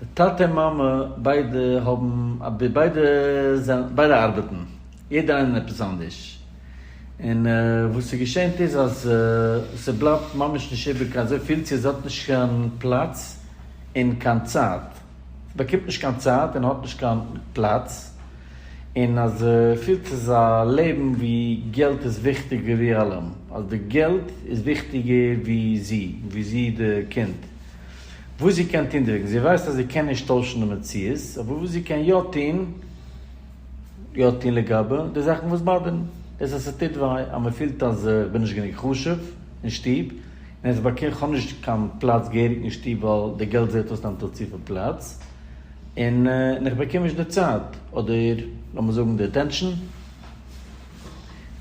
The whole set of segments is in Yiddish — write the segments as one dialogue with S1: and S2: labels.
S1: די טאטע און מאמע ביידע האבן א בי, ביידע זענען, ביידע ארבעטן, יעדער איינער עפעס אנדערש, און וואס איז געשענט איז אז ס'בלייבט ממש נישט איבער קיין אזוי פיל צו זי האט נישט קיין פלאץ און קיין צייט, זי באקומט נישט קיין צייט און האט נישט קיין פלאץ, און אז זי פילט ס'איז א לעבן ווי געלט איז וויכטיגער ווי אלעם, אז די געלט איז וויכטיגער ווי זי, ווי זי די קינד. וואס זי קען טון דערוועגן, זי ווייסט אז זי קען נישט טוישן די מציאות, אבער וואס זי קען יא טון, יא טון לגבי די זאכן וואס באדערן, דאס אז ס'טוט וויי, אז מ'פילט אז איך בין נישט גענוג חשוב אין שטוב, און אז איך כ'האב נישט קיין פלאץ געהעריג אין שטוב ווייל די געלט זעט אויס נעמט אויף צופיל פלאץ, און און איך באקום נישט די צייט, אדער לאמיר זאגן די אטענשאן.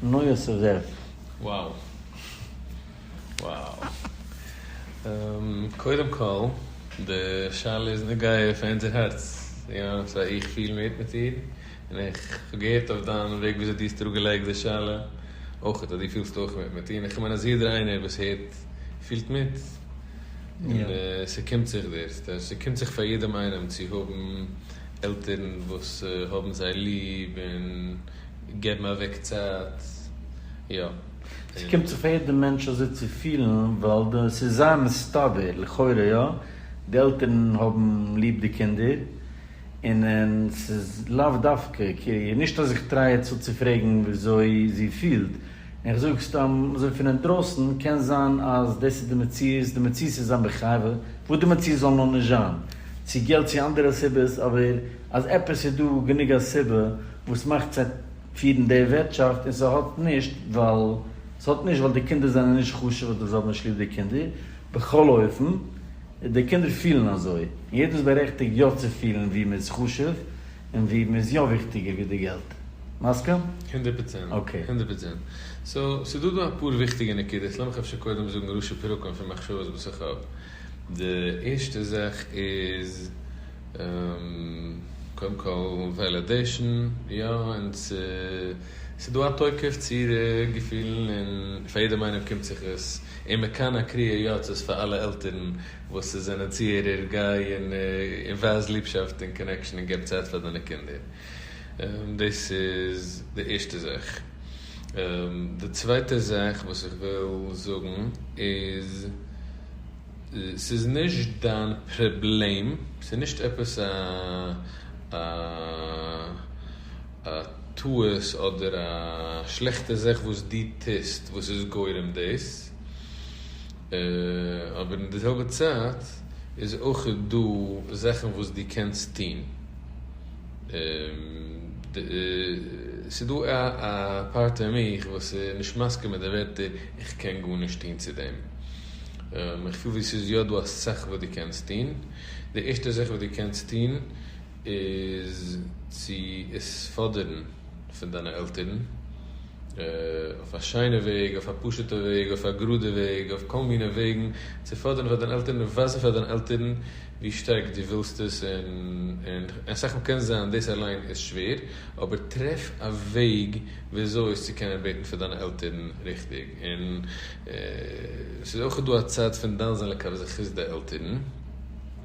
S1: נו יוסף זאב. Wow.
S2: וואו. קודם כל, די שאלה איז נוגע פאר אונזער הארץ, יא, סא איך פיל מיט מיט דיר, און איך האב געהערט אויף דיין וועג וויאזוי דו האסט אראפגעלייגט די שאלה אויכעט אז דו פילסט אויך מיט מיט איר, איך מיין אז יעדער איינער וואס הערט פילט מיט, און ס'קומט זיך דיר, ס'קומט זיך פאר יעדעם איינעם צו האבן עלטערן וואס האבן זיי ליב און געבן אוועק צייט, יא. ס'קומט
S1: זיך פאר יעדע מענטש אזוי צו פילן ווייל די ס'איז זייער מסתבר, לכאורה יא, די עלטערן האבן ליב די קינדער און און ס'איז לאו דווקא קעיר, נישט אז איך טריי יעצט צו פרעגן וויאזוי זי פילט, איך זאג סתם אזוי פון אינדרויסן, קען זיין אז דאס איז די מציאות, די מציאות איז זיין בחייו וואס די מציאות זאל נאר נישט זיין, צו געלט צו אנדערע סיבות, אבער אז עפעס איז דא גענוג א סיבה וואס מאכט זיי. פירן די ווירטשאפט און ס'האט נישט ווייל ס'האט נישט ווייל די קינדער זענען נישט חשוב אדער זיי האבן נישט ליב די קינדער, בכל אופן די קינדער פילן אזוי און יעדער איז בארעכטיגט יא צו פילן ווי מען איז חשוב און ווי מען איז יא וויכטיגער ווי די געלט. מסכים? הונדערט פראצענט.
S2: אקעי. הונדערט פראצענט. סאו ס'איז דא דא אפאר וויכטיגע נקודות, לאמיך אפשר קודם זאגן ראשי פרקים פון מחשבות וואס איך האב. די ערשטע זאך איז קודם כל וועלעדעישן, יא און ס'איז דא א תוקף צו אירע געפילן און פאר יעדעם איינעם קומט זיך עס, און מען קאן א קריאה יוצאת פאר אלע עלטערן וואס זענען צוהערער, גיי און ווייז ליבשאפט און קאנעקשאן און געב צייט פאר דיינע קינדער. דאס איז די ערשטע זאך. די צווייטע זאך וואס איך וויל זאגן איז, ס'איז נישט דיין פראבלעם, ס'איז נישט עפעס א א א טעות אדער א שלעכטע זאך וואס דו טוסט וואס איז גורם דאס, אבער אין די זעלבע צייט איז אויך דא זאכן וואס דו קענסט טון, ס'איז דא א פארט אין מיך וואס איז נישט מסכים מיט די ווערטער איך קען גארנישט טון צו דעם, איך פיל ווי ס'איז יא דא אסאך וואס דו קענסט טון, די ערשטע זאך וואס דו קענסט טון, איז צו עס פאדערן פון דיינע עלטערן, אויף א שיינע וועג, אויף א פשוטע וועג, אויף א גראדע וועג, אויף כל מיני וועגן, צו פאדערן פאר דיינע עלטערן און ווייזן פאר דיינע עלטערן ווי שטארק דו ווילסט עס, און אסאך מאל קען זיין דאס אליין איז שווער, אבער טרעף א וועג וויאזוי עס צו קענען בעטן פאר דיינע עלטערן ריכטיג, און ס'איז אויך דא א צד פון דן זה לקו זכות די עלטערן,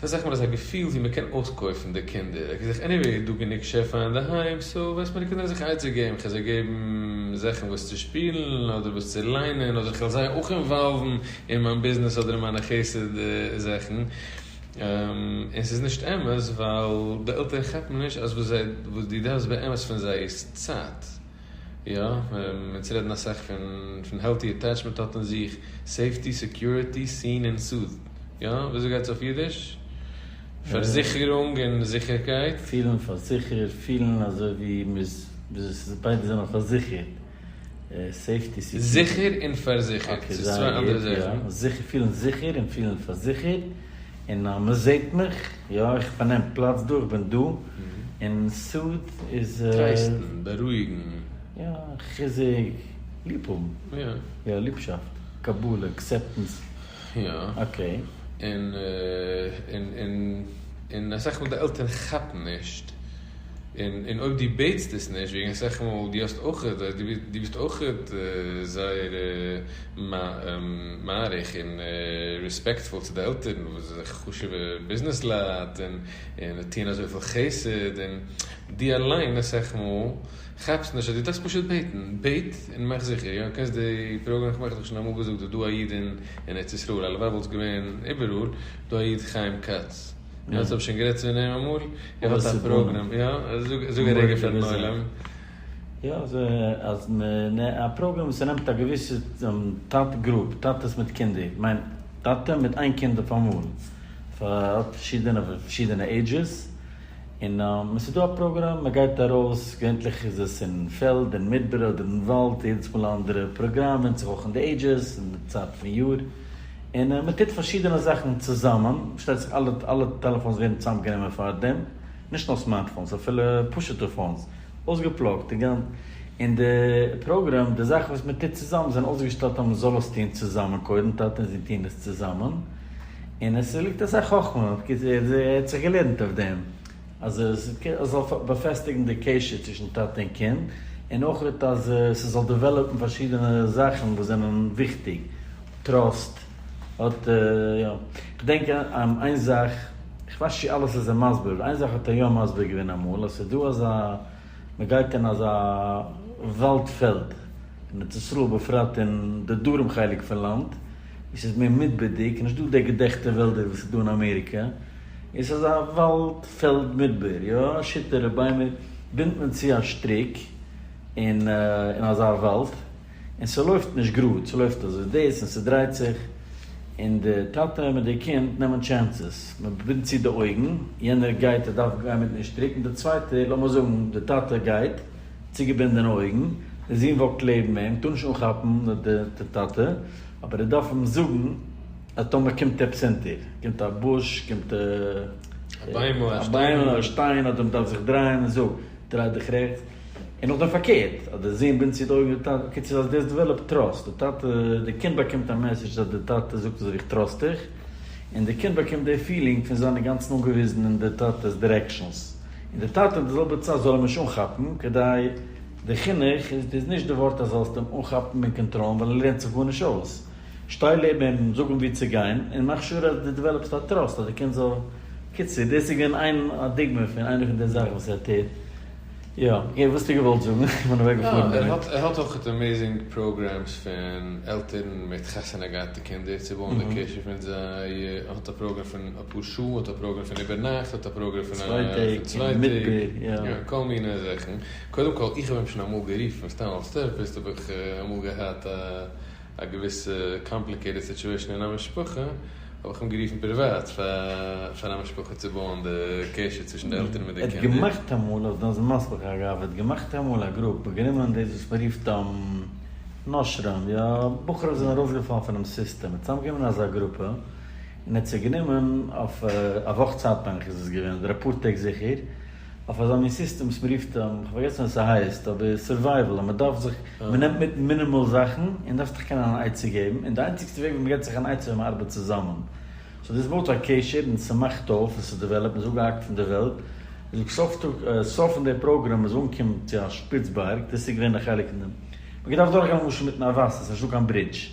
S2: ס'איז אסאך מאל עס א געפיל ווי מ'קען אויסקויפן די קינדער, איך זיך עניוועי איז דא גענוג שפע אינדערהיים סא וועסט מיינע קינדער זיך עצה געבן, כ'על זיי געבן זאכן וואס צו שפילן אדער וואס צו ליינען אדער כ'על זיי אויך אינוואלוון אין מיין ביזנעס אדער אין מיינע חסד זאכן, און ס'איז נישט אמת ווייל די עלטערן כאפן נישט אז וואס דו דארפסט באמת פון זיי איז צייט. יא, אונז רעדן אסאך פון העלטי אטעטשמענט האט אין זיך סעיפטי, סעקיוריטי, סין און סוד. יא, וויאזוי גייט עס אויף אידיש? פארזיכערונג און זיכערקייט. פילן פארזיכערט,
S1: פילן אזוי ווי מ'איז, ביידע זענען פארזיכערט, סעיפטי, סעקיוריטי. זיכער
S2: און פארזיכערט,
S1: ס'איז צוויי אנדערע זאכן. זיכער, פילן זיכער און פילן פארזיכערט. און אז מען זעט מיך, יא, איך פארנעם פלאץ דא, איך בין דא, און סוד איז. טרייסטן, בארואיגן.
S2: יא,
S1: חיזוק, ליב האבן. יא. יא,
S2: ליבשאפט,
S1: קבלה, אקסעפטענס. יא.
S2: אקעי. און,
S1: און,
S2: און, און אסאך מאל די עלטערן כאפן נישט. און אויב דו בעטסט עס נישט וועגן אסאך מאל דו האסט אויך דו ביסט אויך זייער מעריך און רעספעקטפול צו די עלטערן וואס זיי זענען חשוב'ע ביזנעס לייט און זיי טוען אזויפיל חסד און דו אליין אסאך מאל כאפסט נישט אז דו דארפסט פשוט בעטן, בעט און מאך זיכער יא קענסט די פראגראם כ'מיין כ'האב דיר שוין אמאל געזאגט איז דא א איד אין ארץ ישראל הלוואי וואלט עס געווען איבעראל דא א איד חיים כץ. און אז כ'האב
S1: שוין גערעדט צו אים אמאל, ער האט א פראגראם, יא, זאג א רגע פארן עולם. יא, אז מ, א פראגראם וואס ס'נעמט א געוויסע טאט גרופ, טאטעס מיט קינדער, כ'מיין טאטע מיט איין קינד אויפאמאל, האט פארשידענע פון פארשידענע עידזשעס, און עס איז דא א פראגראם, מען גייט ארויס, געווענטליך איז עס אין פעלד, אין מדבר אדער אין וואלד, יעדעס מאל א אנדערע פראגראם, ווענדט זיך אויך אין די עידזשעס און די צייט פון יאר. און מען טוט פארשידענע זאכן צוזאמען, פארשטייט זיך אלע אלע טעלעפאונס ווערן צוזאם גענומען פאר דעם, נישט נאר סמארטפאונס אפילו פשוטע פאונס, אויסגעפלאגט און און די פראגרעם, די זאכן וואס מען טוט צוזאמען זענען אויסגעשטעלט אז מען זאל עס טון צוזאמען קודם, טאטע און זון טוען עס צוזאמען, און עס ליגט אסאך חכמה, ער האט זיך געלערנט אויף דעם. אז עס זאל באפעסטיגן די קשר צווישן טאטע און קינד, און אויך אז ס'זאל דעוועלאפן פארשידענע זאכן וואס זענען וויכטיג, טראסט, האט יא, כ'דענק איין זאך, כ'ווייס נישט צו אלעס איז ער מסביר, אבער איין זאך האט ער יא מסביר געווען אמאל, אז ס'איז דא אזא, מען גייט אין אזא וואלד פעלד, אין ארץ ישראל בפרט אין די דרום חלק פון לאנד, עס איז מער מדבר'דיג, נישט דא די געדעכטע וועלדער וואס איז דא אין אמעריקע, עס איז א וואלד פעלד מדבר, יא שיטערע ביימער בינדט מען צו א שטריק אין אין אזא וואלד, און ס'לויפט נישט גראד, ס'לויפט אזוי דאס און ס'דרייט זיך, און די טאטע מיט די קינד נעמען טשענסעס, מען בינדט צו די אויגן, יענער גייט ער דארף גיין מיטן שטריק, און די צווייטער, לאמיר זאגן די טאטע גייט צוגעבינדענע אויגן, דער זון וואקט לעבן אים, טאר נישט אנכאפן די טאטע, אבער ער דארף אים זאגן אז טאמער קומט עפעס אונטער, קומט א בוש, קומט א ביימל, א שטיין, אדער מ'דארף זיך דרייען, ער זאגט, דריי דיך רעכטס, און נאכדעם פארקערט, אז דער זון בינדט צו די אויגן די טאטע, בקיצור אז דאס דעוועלאפט טראסט, די טאטע, די קינד באקומט א מעסעדזש אז די טאטע זאגט אזוי ווי איך טראסט דיך. און די קינד באקומט די פילינג פון זיין אינגאנצן אנגעוויזן אין די טאטע'ס דירעקשאנס, און די טאטע די זעלבע צייט זאל אים נישט אנכאפן, כדי די חינוך איז נישט די ווארט אז זאלסט אים אנכאפן און קאנטראלן ווייל ער לערנט זיך גארנישט אויס, שטיי לעבן אים, זאג אים וואו צו גיין, און מאך שור אז די דעוועלאפסט א טראסט אז די קינד זאל, קיצור דאס איז געווען איין א דוגמא פון איינע פון די זאכן וואס ער טוט. יא, געב וואס טו געוואלט זאגן, איך בין אוועק געפארן דערמיט. ער האט אויכעט
S2: עמעזינג פראגרעמס פון עלטערן מיט חתונה געהאטע קינדער צו בויען די קשר פון זיי, ער האט א פראגרעם פון אפאר שעה, ער האט א פראגרעם פון איבער נאכט, ער האט א פראגרעם פון צוויי טעג, יא כל מיני זאכן, קודם כל איך האב אים שוין אמאל גערופן סתם אלס טערעפיסט האב איך אמאל געהאט א. א געוויסע קאמפליקעיטעד סיטשועישן אין א משפחה, האב איך אים גערופן פריוואט פאר א משפחה צו בויען די קשר צווישן די עלטערן מיט די קינדער. ער האט געמאכט אמאל, האסט דען
S1: זמסלח אגב, ער האט געמאכט איינמאל א גרופ און גענומען דאס וואס מען רופט נושרים, יא, בחורים וואס זענען ארויסגעפאלן פונעם סיסטעם, ער האט צוזאמגענומען אזא גרופע און ער האט זיי גענומען אויף א וואך צייט מיין איך איז עס געווען, אדער אפאר טעג זיכער, אויף אזא מין סיסטעמס מ'רופט אים, כ'האב פארגעסן ווי עס הייסט, אבער סורווייוועל אז מ'דארף זיך, מ'נעמט מיט מינימאל זאכן, און דארפסט דיך קענען אן עצה געבן, און די איינציגסטע וועג ווי מ'געט זיך אן עצה ווען מ'ארבעט צוזאמען. סאו דאס בויט א קשר און ס'מאכט אויף און ס'דעוועלאפט, מ'איז אפגעהאקט פון די וועלט, און זאגסט סוף טאג סוף פון די פראגראם מ'איז אנגעקומען צו א שפיץ בארג, דאס איז געווען א חלק אין דעם. מ'געדארפט דורכגיין למשל מיטן א וואסער, ס'נישטא קיין ברידזש.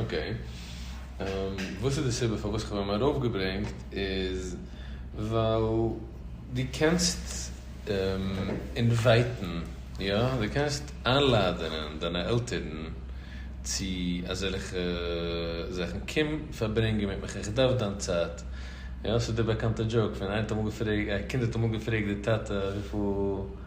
S2: אקעי, וואס איז די סיבה פארוואס כ'האב אים ארויפגעברענגט איז ווייל דו קענסט אינווייטן, יא, דו קענסט איינלאדענען דיינע עלטערן צו אזעלכע זאכן, קום פארברענגען מיט מיך, איך דארף דיין צייט, יא, ס'איז דער באקאנטער דזשאוק פון איינער האט אמאל געפרעגט, א קינד האט אמאל געפרעגט די טאטע וויפיל.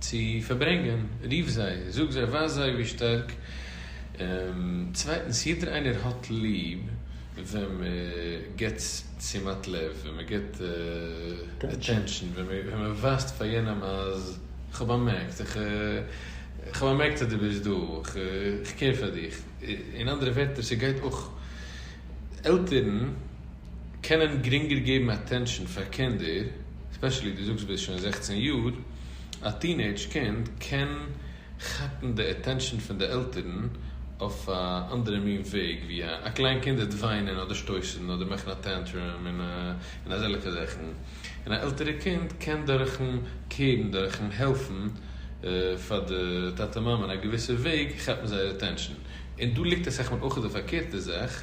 S2: צו פארברענגען, רוף זיי, זאג זיי, ווייז זיי ווי שטארק. צווייטנס, יעדער איינער האט ליב ווען מען גיבט תשומת לב, ווען מען גיבט אטענשאן, ווען מען ווייזט פאר יענעם אז כ'האב באמערקט, כ'האב באמערקט אז דו ביסט דא, כ'קעיר פאר דיך. אין אנדערע ווערטער, ס'גייט אויך עלטערן. קענען גרינגער געבן אטענשאן פאר קינדער, ספעשעלי דו זאגסט ביסט שוין זעכצן יאר, א טינעידזש קינד קען כאפן די אטענשאן פון די עלטערן אויף א אנדערע מין וועג ווי א קליין קינד וועט וויינען אדער שטויסן אדער מאכן א טענטרום און אזעלעכע זאכן, און א עלטערע קינד קען דורכן קעירן דורכן העלפן פאר די טאטע מאמע אין א געוויסע וועג כאפן זייער אטענשאן, און דא ליגט אסאך מאל אויך די פארקערטע זאך.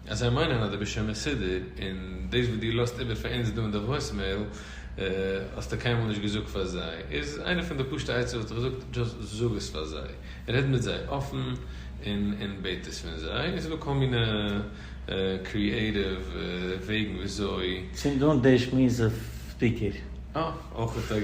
S2: אז זיי מיינען אז דו ביסט שוין מסודר, און דאס וואס דו לאזט איבער פאר אונז דא אין די וואויסמעיל האסטו קיינמאל נישט געזאגט פאר זיי, איז איינע פון די פשוטע עצות וואס איך זאג, דזשאסט זאג עס פאר זיי, רעד מיט זיי אפן און בעט עס פון זיי, און ס'איז דא כל מיני קריעטיוו וועגן וויאזוי. צינד אן די
S1: שמועס אויף ספיקער. אה, אויך
S2: א טעג.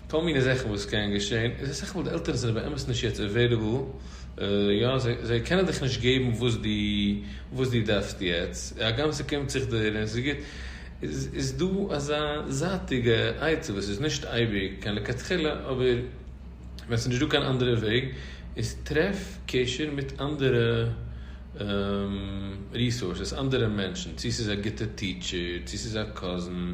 S2: כל מיני זאכן וואס קען געשען, איז אסאך מאל די עלטערן זענען באמת נישט יעצט עוועיליבל, יא, זיי קענען דיך נישט געבן וואס דו וואס דו דארפסט יעצט, הגם ס'קומט זיך דיר און ס'איז גוט, איז איז דא אזא זייטיגע עצה וואס איז נישט אייביג קיין לכתחילה, אבער ווען ס'נישט דא קיין אנדערע וועג, איז טרעף קשר מיט אנדערע ריסארסעס, אנדערע מענטשן, צו ס'איז א גוטע טיטשער, צו ס'איז א קאזין,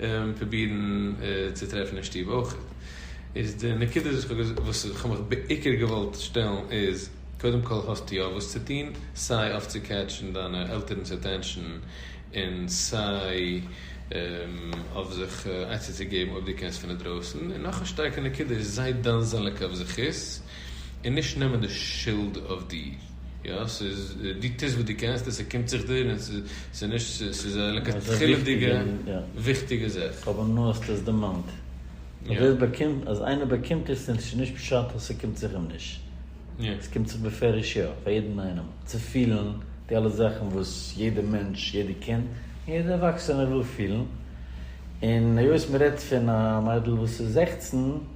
S2: און פרובירן צו טרעפן אין שטוב אויך. איז די נקודה איז וואס איך האב מיך בעיקר געוואלט שטעלן איז, קודם כל האסט יא וואס צו טון, סיי אויף צו קעטשן דיינע עלטערנ'ס אטענשאן, און סיי אויף זיך עצה צו געבן אויב דו קענסט פון אינדרויסן, און נאך א שטארקע נקודה איז זיי דן זעליג אויף זכות, און נישט נעמען די שולד אויף דיר, יא? ס'איז, דו טוסט וואס דו קענסט און ס'קומט זיך דיר און ס'איז נישט, ס'איז א לכתחילה'דיגע וויכטיגע זאך. אבער נו האסט עס
S1: דערמאנט. און ווער באקומט, אז איינער באקומט עס איז נישט פשט אז ס'קומט זיך אים נישט. ס'קומט זיך
S2: בפירוש
S1: יא, פאר יעדן איינעם. צו פילן די אלע זאכן וואס יעדע מענטש, יעדע קינד, און יעדע ערוואקסענער וויל פילן. און היות מ'רעדט פון א מיידל וואס איז זעכצן.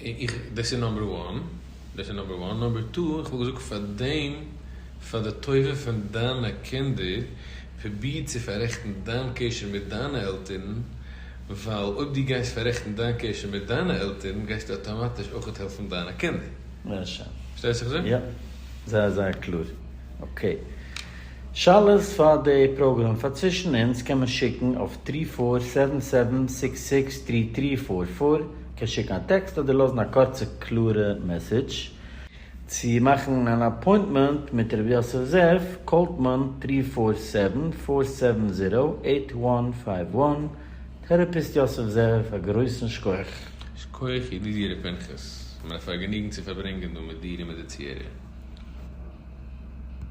S1: איך,
S2: דאס איז נאמבער וואן, דאס איז נאמבער וואן, נאמבער טו, איך וואלט געזאגט פאר דעם, פאר די טובה פון דיינע קינדער, פרוביר צו פאררעכטן דיין קשר מיט דיינע עלטערן, ווייל אויב דו גייסט פאררעכטן דיין קשר מיט דיינע עלטערן, גייסטו אטאמאטיש אויכעט העלפן דיינע קינדער. זעער שיין.
S1: פארשטייסט
S2: וואס
S1: איך זאג? יא. זייער זייער קלאר. אקעי. שאלות פאר די פראגראם פאר צווישן אונז קען מען שיקן אויף טרי פאר סעווען סעווען סיקס סיקס טרי טרי פאר פאר, קען שיקן א טעקסט אדער לאזן א קורצע קלארע מעסעדזש, צו מאכן אן אפוינטמענט מיט ר' יוסף זאב קאלט מען טרי פאר סעווען פאר סעווען זירא עיט וואן פייוו וואן, טערעפיסט יוסף זאב א גרויסן
S2: שכח. שכוח ידידי ר' פנחס, מיר א
S1: פארגעניגן
S2: צו פארברענגען דא מיט דיר און מיט די צוהערער.